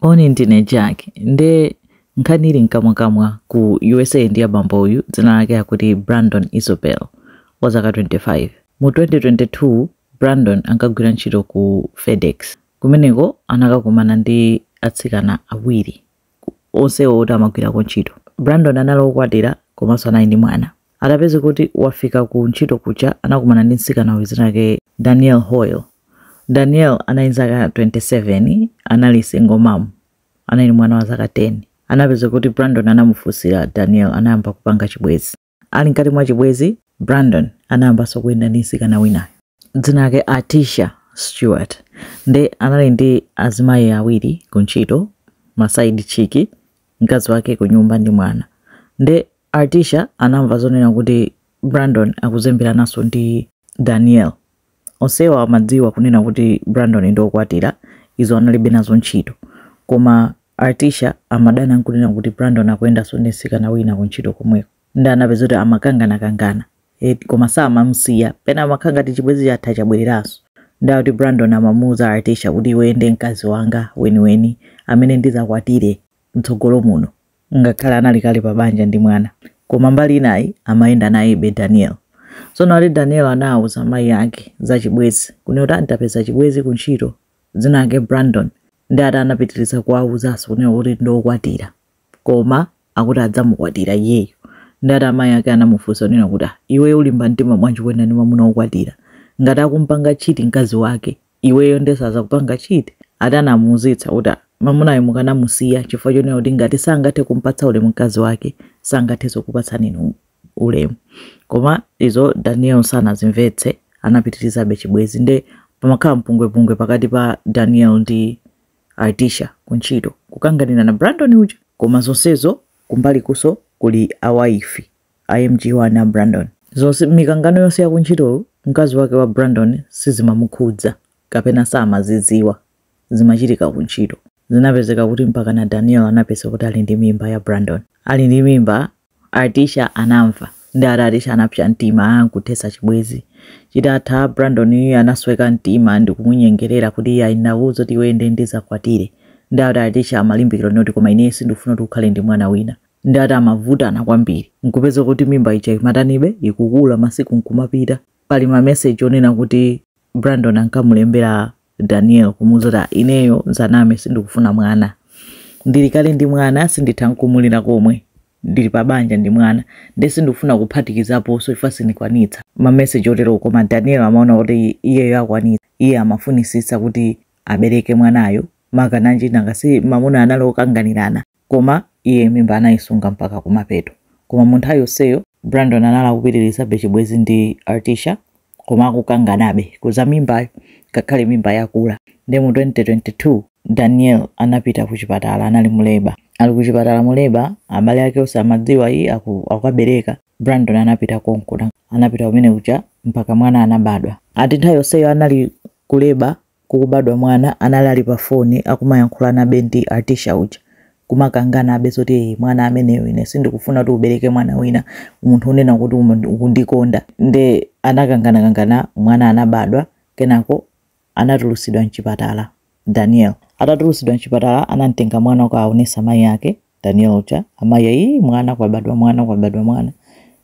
Oni ndine Jack nde nkhani ili mkamwakamwa ku usa ndi ya bambo uyu dzina lake akuti Brandon Isobel wa zaka 25 mu 2022 Brandon ankagwira ntchito ku FedEx kumeneko anakakumana ndi atsikana awiri onsewo oti amagwirako ntchito Brandon anali wokwatira komanso anali ndi mwana Atapezeka kuti wafika ku ntchito kuja anakumana ndi mtsikana uyu dzina lake Danielle Hoyle. Danielle anali ndi zaka 27, anali single mom, anali ndi mwana wa zaka 10. Anapezeka kuti Brandon anamufunsira Danielle, anayamba kupanga chibwenzi. Ali mkati mwa chibwenzi, Brandon anayambanso kuyenda ndi mtsikana winayo dzina lake Artisha Stewart. Nde anali ndi azimayi awiri ku ntchito, ma side chick, mkazi wake kunyumba ndi mwana. Nde Artisha anamva zonena kuti Brandon akuzemberananso ndi Danielle. Onsewa amadziwa kunena kuti Brandon ndi okwatira, izo analibe nazo ntchito. Koma Artisha amadana nkunena kuti Brandon akuyendanso ndi msikana wina kuntchito komweko. Nde anapezeka kuti amakanganakangana. Koma samamusiya. Pena amakhala ngati chibwenzi chatha chabwereranso. Nde akuti Brandon amamuuza Artisha kuti iweyo ndiye mkazi wanga weniweni amene ndizakwatire. mtsogolo muno ngakhale anali kale pa banja ndi mwana koma mbali inayi amayenda nayebe daniel tsono ati daniel anawuza amayi ake za chibwezi kunena kuti anapeza chibwezi ku ntchito dzina ake brandon nde ati anapitiriza kuwawuzanso kunena kuti ndiokwatira koma akuti adzamukwatira iyeyo nde ati amayi ake anamufunsa kunena kuti "Ah, iwe ulimba mtima bwanji kuyenda ndi mwamuna wokwatira ngati akumpanga cheat mkazi wake iweyo nde sazakupanga cheat ati anamuuzitsa kuti mamunayo mukanamusiya chifukwa chonena kuti ngati sangathe kumpatsa ulemu mkazi wake sangathenso kupatsani inu ulemu koma izo daniel sanazimvetse anapitirizabe chibwezi nde pamakhala mpungwepungwe pakati pa daniel ndi artisha kuntchito kukanganirana brandon uja koma zonsezo kumbali kunso kuli awaifi a MG1 a Brandon. Zonse, mikangano yonse ya kuntchitoyo, mkazi wake wa Brandon sizimamukhudza kapena samazidziwa. Zimachitika kuntchito. Zinapezeka kuti mpakana Danielle anapezeka kuti ali ndi mimba ya Brandon. Ali ndi mimba, Artisha anamva. Nde ati Artisha anapsa mtima nkuthetsa chibwenzi. Chitatha, Brandon anasweka mtima ndi kumunyengerera kuti iye ayi ndakuuza kuti iwe ndiye ndizakwatire. Nde ati Artisha amalimbikira zoti koma ineyo sindikufuna kuti ukhale ndi mwana wina. ndi ati amavutana kwambiri nkupeza kuti mimba ija imatanibe ikukula masiku nkumapita pali mameseji onena kuti brandon ankamulembera daniel kumuuza kuti "Ah, ineyo nzanamwe sindikufuna mwana ndili kale ndi mwana sinditha nkumulera komwe ndili pa banja ndi mwana nde sindikufuna kuphatikizaponso IVF sindikwanitsa mameseji otero koma daniel amaona kuti iyeyo akwanitsa iye amafunisitsa kuti abereke mwanayo makanaka nanga si mamuna anali okanganirana Koma iye mimba anaisunga mpaka kumapeto. Koma mu nthawi yonseyo, Brandon anali akupitirizabe chibwenzi ndi Artisha koma akukanganabe za mimbayo ngakhale mimba yakula. Ndiye mu 2022, Danielle anapita kuchipatala, anali mu leba. Ali kuchipatala mu leba, abale ake onse amadziwa, iye akukabereka, Brandon anapita konko. Anapita kumene kuja mpaka mwana anabadwa. Ati nthawi yonseyo anali mu leba kukubadwa mwana anali ali pa foni akumayankhulanabe ndi Artisha uja kumakanganabe zoti ee mwana ameneyo ine sindikufuna kuti ubereke mwana wina munthu unena kuti umu- ukundikonda nde anakanganakangana mwana anabadwa kenako anatulusidwa mchipatala Daniel atatulusidwa mchipatala anamtenga mwana kukaonesa mayi ake Daniel uja amayi ayi mwana kwabadwa mwana kwabadwa mwana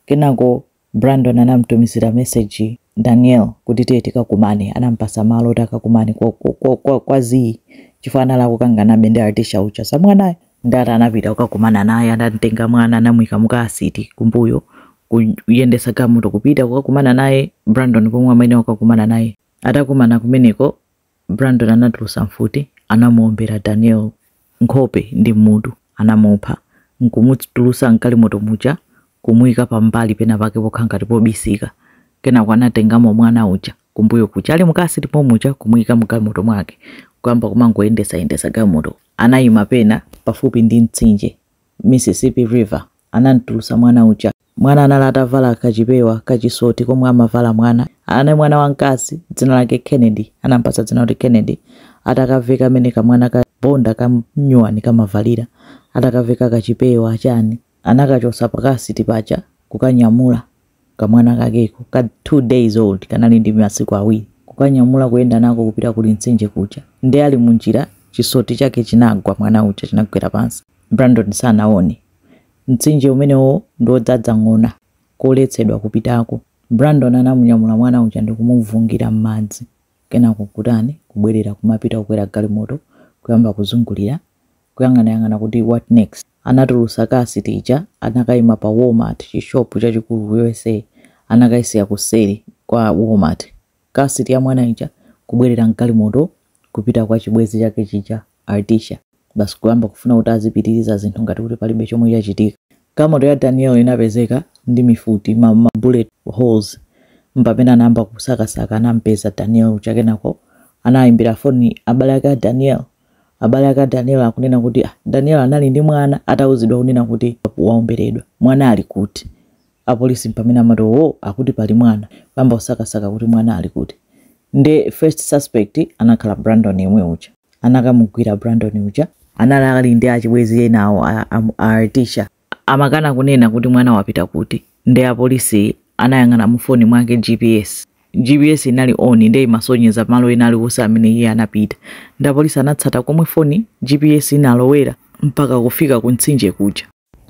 kenako Brandon anamtumizira meseji Daniel kuti tiye tikakumane, anampasa malo oti akakumane kwa, kwa, kwa, kwa, kwa zii chifukwa anali akukanganabe ndi Artisha uja za mwanayo. Nde ati anapita kukakumana naye, anamtenga mwana anamuika mu car seat kumbuyo, kuyendesa galimoto kupita kukakumana naye Brandon pomwe amayenera kukakumana naye. Atakumana kumeneko, Brandon anatulusa mfuti, anamuombera Daniel nkhope ndi mmutu, anamupha, nkumutulusa mgalimoto muja kumuika pambali pena pake pokhala ngati pobisika, kenako anatengamo mwana uja kumbuyo kuja ali mu car seat momuja kumuika mgalimoto mwake nkuyamba kumangoyendesa yendesa galimoto, anaima pena pafupi ndi mtsinje, Mississippi River, anamtulusa mwana uja. Mwana anali atavala kachipewa kachisoti komwe amavala mwana. Anali mwana wamkazi, dzina lake Kennedy, anamupatsa dzina lakuti Kennedy, atakaveka mmene kamwana kobadwa kanyuwani kamavalira, atakaveka kachipewa chani, anakachotsa pa car seat paja kukanyamula kamwana kakeko ka 2 days old, kanali ndi masiku awiri, kukanyamula kuyenda nako kupita kuli mtsinje kuja, nde ali munjira chisoti chake chinagwa mwana uja chinagwera pansi, Brandon sanaone Mtsinje umenewo ndi wodzadza ng'ona, koletsedwa kupitako. Brandon anamunyamula mwana uja ndi kumuvungira m'madzi. Kenako kutani kubwerera kumapita kukwera galimoto, kuyamba kuzungulira, kuyang'anayang'ana kuti what next. Anatulutsa car seat ija, anakaima pa Walmart, chishopu chachikulu ku US, anakaisiya kuseri kwa Walmart. car seat ya mwana ija kubwerera mgalimoto kupita kwa chibwezi chake chija Artisha basi kuyamba kufuna kuti azipitiriza zinthu ngati kuti palibe chomwe chachitika galimoto ya Daniel inapezeka ndi mifuti ma, ma bullet holes mpamene anayamba kusakasaka anampeza Daniel uja kenako anayimbira foni abale ake a Daniel abale ake a Daniel akunena kuti ah, Daniel anali ndi mwana atauzidwa kunena kuti waomberedwa mwana ali kuti apolisi mpamene amati owoo akuti pali mwana, kuyamba kusakasaka kuti mwana ali kuti nde first suspect anakhala Brandon yemwe uja. Anakamugwira Brandon uja. Anali ali ndi achibwezi ena awo a, a, a Artisha. Amakana kunena kuti mwana wapita kuti. Nde apolisi anayang'ana mu foni mwake GPS. GPS inali on nde imasonyeza malo ena alionse amene iye anapita. Nde apolisi anatsata komwe foni, GPS inalowera mpaka kufika ku mtsinje kuja.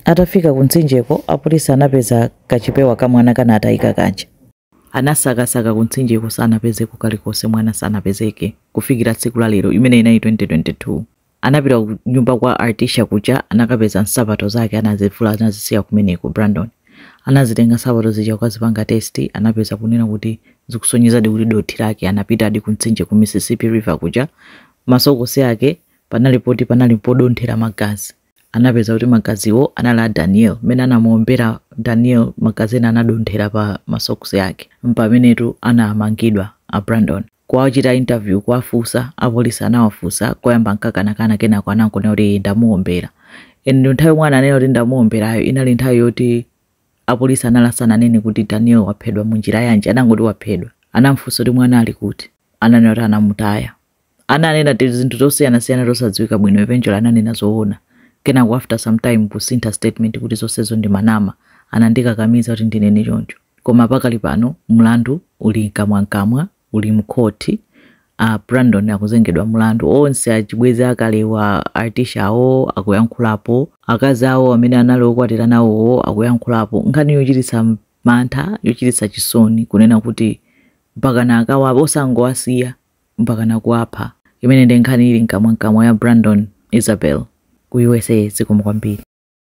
Atafika kumtsinjeko, apolisi anapeza kachipewa ka mwana kanatayika kaja. Anasakasaka kumtsinjeko sanapezeko kalikonse mwana sanapezeke kufikira tsiku la lero imene inali 2022. Anapita ku nyumba kwa Artisha kuja anakapeza nsapato zake anazivula anazisiya kumeneko Brandon. Anazitenga nsapato zija kukazipanga test anapeza kunena kuti zikusonyezadi kuti dothi lake anapitadi kumtsinje ku Mississippi River kuja masokosi ake panali poti panali podonthera magazi. anapeza kuti magaziwo anali a daniel mmene anamuombera daniel magazi ena anadonthera pa masoksi yake mpamenetu anamangidwa a brandon kuwachita interview kuwafunsa apolisi anawafunsa koyamba ankakanakana kenako anangonena kuti "Ee, ndamuombera and nthawi yomwe ananena kuti ndamuomberayo inali nthawi yoti apolisi anali asananene kuti daniel waphedwa mu njira yanji anangoti waphedwa anamfunsa kuti mwana ali kuti ananena kuti anamutaya ananena ti zinthu zosiyanasiyana zosadziwika bwino eventually ananena zoona kenako after some time kusintha statement kuti zonsezo ndi manama anandikakamiza kuti ndinene choncho koma pakali pano mlandu uli mkamwamkamwa uli mkhoti a brandon akuzengedwa mlandu onse achibwezi akewa artisha awo akuyankhulapo akazi awo amene anali okwatira nawowo akuyankhulapo nkhani yochititsa mantha yochititsa chisoni kunena kuti mpakana akawa osangowasiya mpakana kuwapha imene ndi nkhani ili mkamwamkamwa ya Brandon Isabel ku usa zikomo kwambiri.